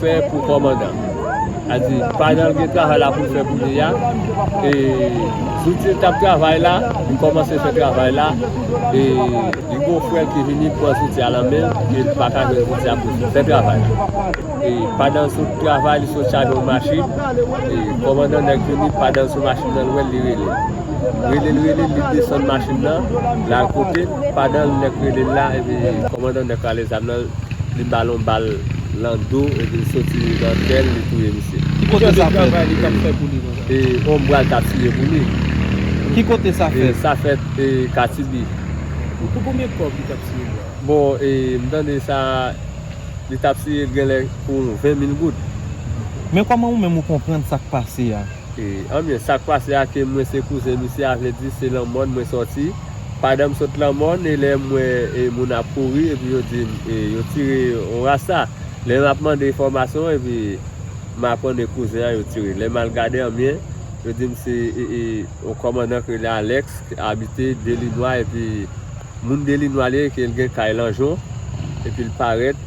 Respè pou kòmandan a di pa nan gen travay la pou l fè kounye ya e zouti l tap travay la li kòmanse fè travay la e li gon frè l ki vini pran zouti a nan men l e li paka jwenn zouti a pou l fè travay la e pandan l sot travay li sot chaje yon machin e kòmandan nèg vini pandan l sou machin nan l wè l li rele l rele l rele l li desann machin nan l al kote l pandan nèg rele l la epi kòmandan nèg rale zam nan li bal yon bal. Lando epi soti nan kèl li touye misye. Ki kote sa fèt? E onbral ta tiye pou li. Ki kote sa fèt? Sa fèt katibi. Pou konbyen kob li tap tiye yo? Bon e m tande sa li tap tiye genlè pou 20 mil goud. Men koman ou menm ou konprann sak pase a? Anbyen sak pase a ke mwen se kouzen misye a vle di se nan mòn mwen soti. Pandan m sot lan mòn e lè m wè moun ap kouri epi yo di m yo tire yon rasta. Lè m ap mande enfòmasyon epi m aprann e kouzen an yo tire. Lè m al gade anbyen, yo di m se yon kòmandan ki rele Alex ki abite Delinwa epi moun Delinwa li ye ke l gen kay Lanjon epi l parèt.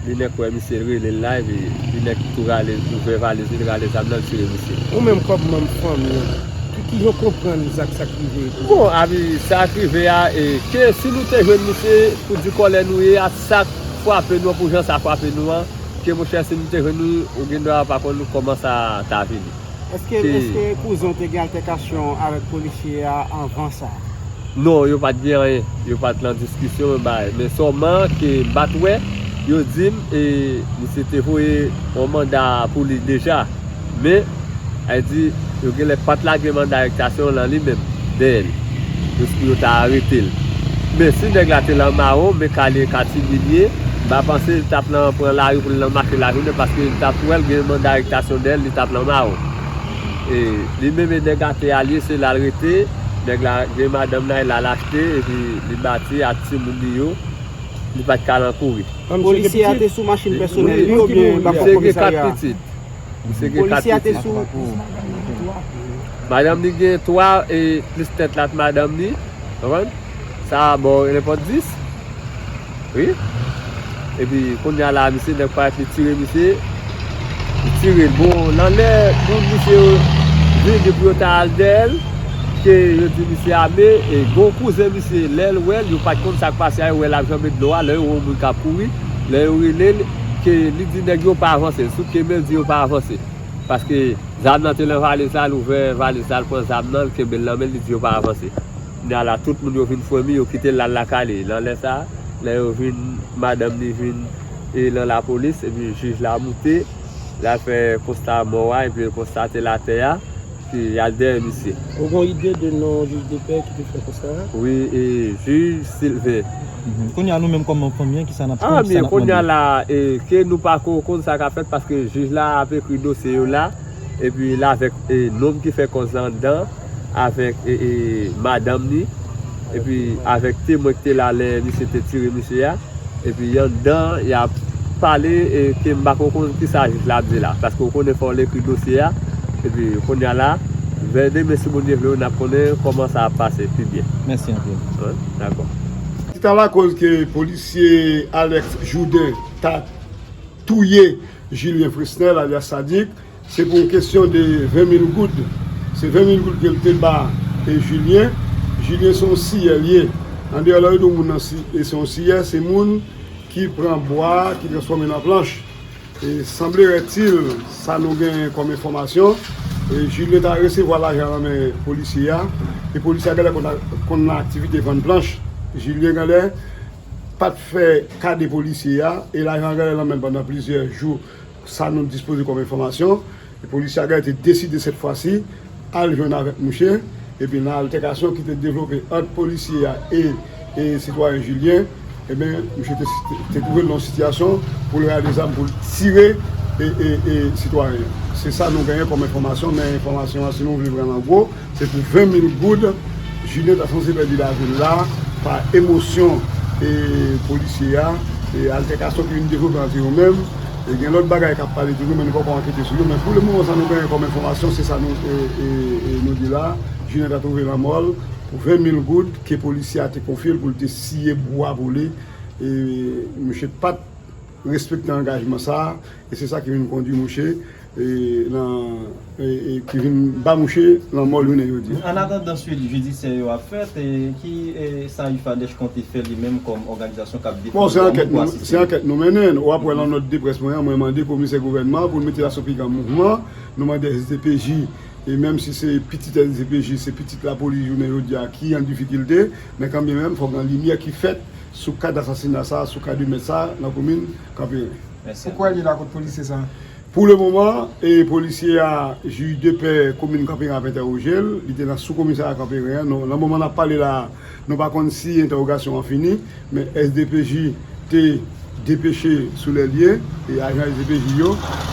Linek wè misye li relel live e linek ki tou rale ouvè valiz li li rale zam nan li tire misye. Ou menm kòm manm fanmi an, ki ki jan w konprann zak sa k rive epi? Bon avy sa k rive a e ke si nou te jwenn misye pou di kòlè nou ye a sa k frape nou an pou jan sa frape nou an ke monchè si nou te jwenn li ou gendwa pa konn kòman sa ta vini. Eske kouzen an te gen altèkasyon avèk polisye a anvan sa? Non, yo pat gen anyen. Yo pat lan diskisyon yo bay. Men sòman ke m pat wè, yo di m e misye te voye yon manda pou li deja. Men, a di yo genlè pat lage manda arestasyon lan li menm, dèyè li. Jis pou yo ta arete l. Men si nèg la te lan mawon, men kale e katimini l ye, m pa panse l t ap lan pran lari pou l lan make lajounen paske l t ap wè l gen manda arektasyon dèyè l, li t ap lan mawon. E li menm e nèg ate a l ye, se la l rete, nèg la gen madanm la, e la l achte epi li bati ak timoun li yo, li pa t ka lan kouri. Polisye a te sou machin pèsonèl li oubyen l t ap bò komisarya a? Misye gen 4 pitit. Madanm li gen 3 e plis tèt lat madanm li. Konprann? Sa a ba w nenpòt 10. Wi. Epi kounya la a misye nèg parèt li tire misye. Li tire l. Bon, nan lè moun misye yo vini pou yo ta al dèyè l, ke yo di misye ame, e gen yon kouzen misye lè l wè l, yo pa t konn sa k pase a, yo wè l ap janbe dlo a, lè yo wè yon moun k ap kouri. Lè yo rele l, ke li di nèg yo pa avanse, sou ke bandi yo pa avanse. Paske zam nan te lan valiz la, l ouvè valiz la, l pran zam nan, l kenbe l lan men l, li di yo pa avanse. Kounye a la, tout moun yo vin fremi, yo kite l lal lakay li. Lan lè sa a, lè yo vin, madanm li vin e lan lapolis, epi jij la moute, lal fè konsta mò a, epi l konstate l atè a. Se Ader misye. Ou gon ide de non jij de pè ki te fè kò sa a? Wi e jij Silve. Kounya nou menm kòm fanmi an kisa nap tann kisa nap mande. Kounya la e ke nou pako konn sa kap fèt paske jij la ap ekri dosye yo la epi la avèk nonm ki fè kòz la anndan avèk e madanm ni. epi avèk temwen ki te la lè misye te tire misye a, epi anndan an y ap pale e ke m pa ko konn kisa jij la ap di la, paske ou konnen fò l ekri dosye a, epi kounya la, vè demen si Bondye vle wi n ap konnen kòman sa ap pase pi byen. Mèsi anpil. Dakò. Ki ta lakoz ke polisye Alex Jourdain ta touye Julien Fresnel alyas Sadik. Se pou yon kesyon de 20 mil goud. Se 20 mil goud ke l te ba Julien. Julien se yon siyè l ye. Andeyò lè yo di w moun nan se yon siyè, se moun ki pran bwa, ki transfòme l an planch. E sanblerètil, sa nou genyen kòm enfòmasyon, Julien ta resevwa lajan nan men polisye a, e polisye a genlè konn nan aktivite vann planch. Julien genlè pa t fè kade polisye a, e lajan an genlè nan men l pandan plizyè jou. Sa nou dispoze kòm enfòmasyon, polisye Agay te deside sèt fwa si al jwenn avèk mouche, epi nan altèkasyon ki te devlope ant polisye a e sitwayen Julien, enben mouche te twouve l nan yon sitiyasyon pou l rale zam pou l tire sitwayen an. Se sa nou genyen kòm enfòmasyon, men enfòmasyon an si nou vle pran l an gwo, Se pou 20 mil goud Julien ta sanze pèdi lavil la pa emosyon e polisye a e altèkasyon ki vin devlope ant yo menm e gen lòt bagay kap pale toujou men nou poko ankete sou yo men pou le moman sa nou genyen kòm enfòmasyon se sa nou di la Julien ta twouve lanmòl pou 20 mil goud ke polisye a te konfyel pou li te siye bwa pou li e mouche pat respekte angajman sa. E se sa ki vin kondwi mouche nan e ki vin ba mouche lanmò jounen jodi a. An atandan suit jidisyè yo ap fèt, ki sa IFADEH konte fè li menm kòm òganizasyon k ap defann dwa moun pou asiste? Se ankèt nou mennen. W ap wè nan nòt de près mwen an, mwen mande komisè gouvènman an pou l mete lasopigra an mouvman. Nou mande sdpj, e menm si se pitit sdpj, se pitit lapolis jounen jodi a ki an difikilte, men kanbyen menm fòk gen limyè ki fèt sou ka dasasina sa a, sou ka de mèt sa a nan komin Kanperen. Mèsi anpil. Ou kwè li la kot polisye sa? Pou le moman, polisye a, jij de pè komin Kanperen ap entèwoje l, li te nan sou komisarya Kanperen an, nan moman nap pale la a, nou pa konn si entèwogasyon an fini, men SDPJ te depeche sou lè lye, e ajan SDPJ yo,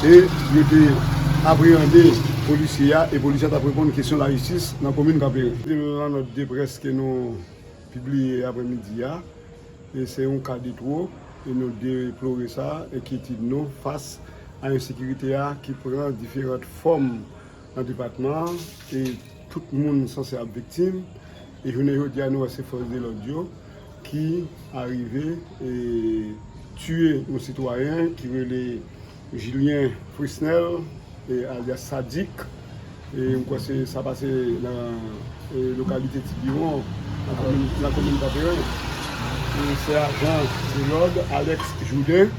e yo te apreyande polisye a, e polisye a tap reponn kesyon lajistis nan komin Kanperen. Selon nòt de près ke nou pibliye aprè midi a, E se yon ka de two, e nou deplore sa, enkyetid nou fas a ensekirite a ki pran diferant fòm nan depatman an, e tout moun sanse ap viktim, e jounen jodi a nou wè se fòs de lòd yo ki arive e tiye yon sitwayen ki rele. Julien Frisnel alyas Sadik m kwè se sa pase nan lokalite ti biwon nan komin Kanperen e se ajan de lòd Alex Jourdain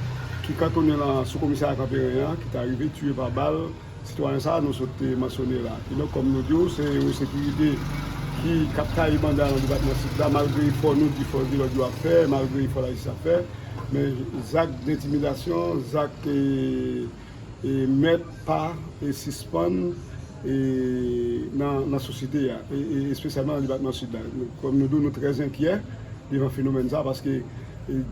ki kantonnen nan sou komisarya Kanperen an ki ta rive tiye pa bal Sitwayen sa a nou sot mansyone la. Kidonk, kòm nou di w, se yon ensekirite ki ap taye banda nan depatman Sid la. Malgre efò nou di, fòs de lòd yo ap fè, malgre efò lajistis ap fè, men zak dentimidasyon, zak mèt pa sispann nan sosyete a, espesyalman nan depatman Sid la. Kòm nou di w, nou trè enkyè devan fenomèn sa a, paske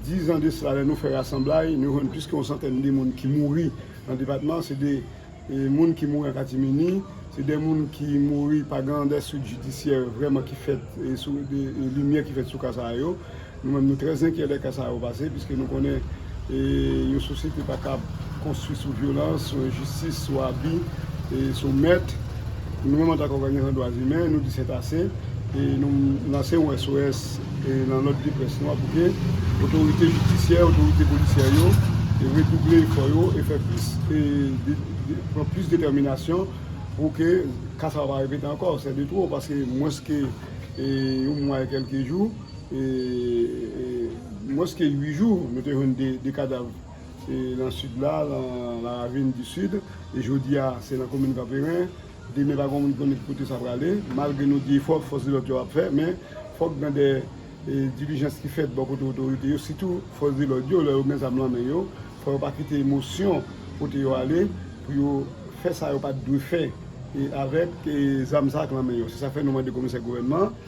dizan de sila, lè nou fè rasanblay, nou jwenn plis ke yon santèn de moun ki mouri Nan depatman se de moun ki mouri an katimini, se de moun ki mouri pa gen de swit jidisyè vreman ki fèt sou de limyè ki fèt sou ka sa yo. Nou menm nou trè zenkyè lè ka sa yo pase piske nou konnen yon sosyete pa kab konstwi sou vyolans, sou enjistis, sou abi, sou mèt. Nou menm antank òganizasyon dwa imen, nou di sètase e nou lanse yon SOS nan lòt de près nou a pou ke otorite jidisyè, otorite polisyè yo redouble efò yo e fè plis e pran plis detèminasyon pou ke ka sa pa repete ankò. Sè de twò paske mwens ke yon mwa e kèlke jou, mwens ke 8 jou nou te jwenn 2 kadav. Lan sid la, lan la ravine du sud, e jodi a se lan komin Kanperen, demen pa gen moun ki konnen ki kote sa prale, malgre nou di efò fòs de lòd yo ap fè, men fòk gen de dilijans ki fèt bò kote otorite yo, sitou fòs de lòd yo, lò yo gen zam lan men yo, fò yo pa kite emosyon pote yo ale, pou yo fè sa yo pa t dwe fè avèk zam sa ak lan men yo, se sa k fè nou mande komisè gouvènman an.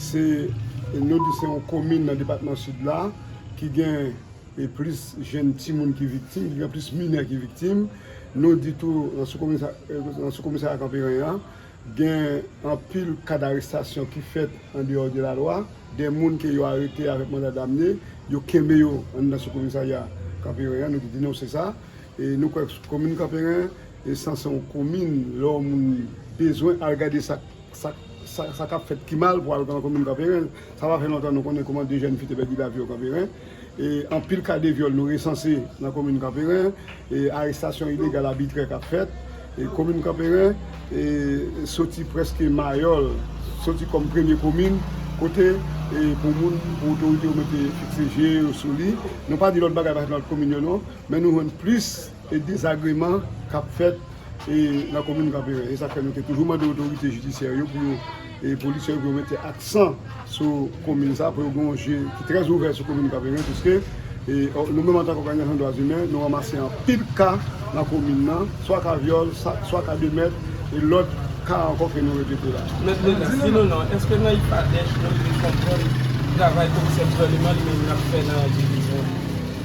Se nou di se yon komin nan depatman Sid la ki gen plis jenn timoun ki viktim, ki gen plis minè ki viktim. Nou di tou nan sou komisarya Kanperen an gen anpil ka darestasyon ki fèt an deyò de lalwa. De moun ke yo arete avèk manda damne, yo kenbe yo anndan sou komisarya Kanperen an. Nou te denonse sa. E nou kwè komin Kanperen san se yon komin lè yon moun bezwen al gade sa. Sa k ap fèt pi mal pou al pran komin Kanperen, sa pa fè lontan nou konnen kouman 2 jèn fi te pèdi lavi yo Kanperen. Anpil ka de vyòl nou resanse nan komin Kanperen, arestasyon ilegal abitrè k ap fèt. Komin Kanperen soti prèske mayòl, soti kòm premye komin kote pou moun, pou otorite yo mete fikse je yo sou li. Nou pa di lòt bagay pa fèt nan lòt komin yo non, men nou jwenn plis. e dezagreman k ap fèt nan komin Kanperen. E sa k fè nou te toujou mande otorite jidisyè yo pou yo, e polisye yo pou yo mete aksan sou komin sa, pou yo gen yon je ki trè ouvè sou komin Kanperen piske nou menm antank òganizasyon dwa zimen nou ranmase anpil ka nan komin nan, swa ka vyòl, swa ka de mèt e lòt ka ankò ke nou repete la. Mèt Lenas, di nou non, èske nan IPADH nou rive konprann travay komisè gouvèneman li menm l ap fè nan divizyon an?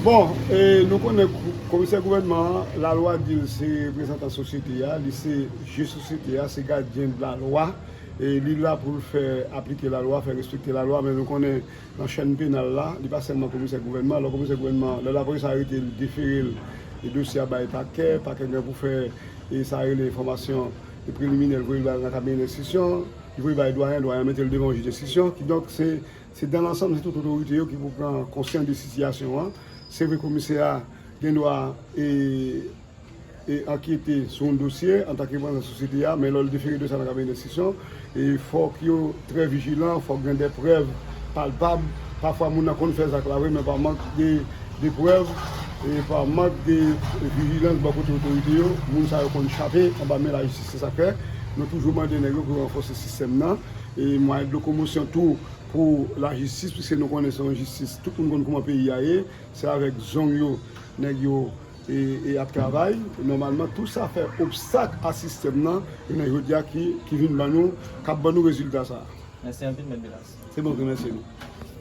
Bon, e nou konnen. Komisè gouvènman an, lalwa di l se reprezantan sosyete a, li se je sosyete a, se gadyen lalwa, li la pou l fè aplike lalwa, fè respekte lalwa, men nou konnen nan chèn penal la, li pa sèlman komisè gouvènman, lò komisè gouvènman, lè lapolis arete l, defere l, dosye a bay pakè, pakè gen pou fè sa yo rele enfòmasyon preliminè, l voye l nan kabinet enstriksyon, li voye bay dwayen, dwayen an mete l devan jij enstriksyon, kidonk se. Se dan lansanm se tout otorite yo ki pou pran konsyan de sitiyasyon an. Se vre komisè a gen dwa e e ankyete sou yon dosye antan ke manm nan sosyete a men lò l difere dosye a nan kabinè denstriksyon e fòk yo trè vijilan, fòk gen dè prèv palpab. Pafwa moun nan konn fè zak la vre men pa mank de de prèv e pa mank de vijilans bò kote otorite yo moun sa yo konn chape anba men lajistis. Se sa k fè nou toujou mande nèg yo pou yo ranfòse sistèm nan. e mwayen de lokomosyon tou pou lajistis pwiske nou konnen se yon jistis tout moun konn kouman peyi a ye se avèk zong yo nèg yo e ap travay nòmalman tou sa fè obstak a sistèm nan jounen jodi a ki vin ban nou k ap ban nou rezilta sa a. Mèsi anpil mèt Bilas. Se mwen ki remèsye nou.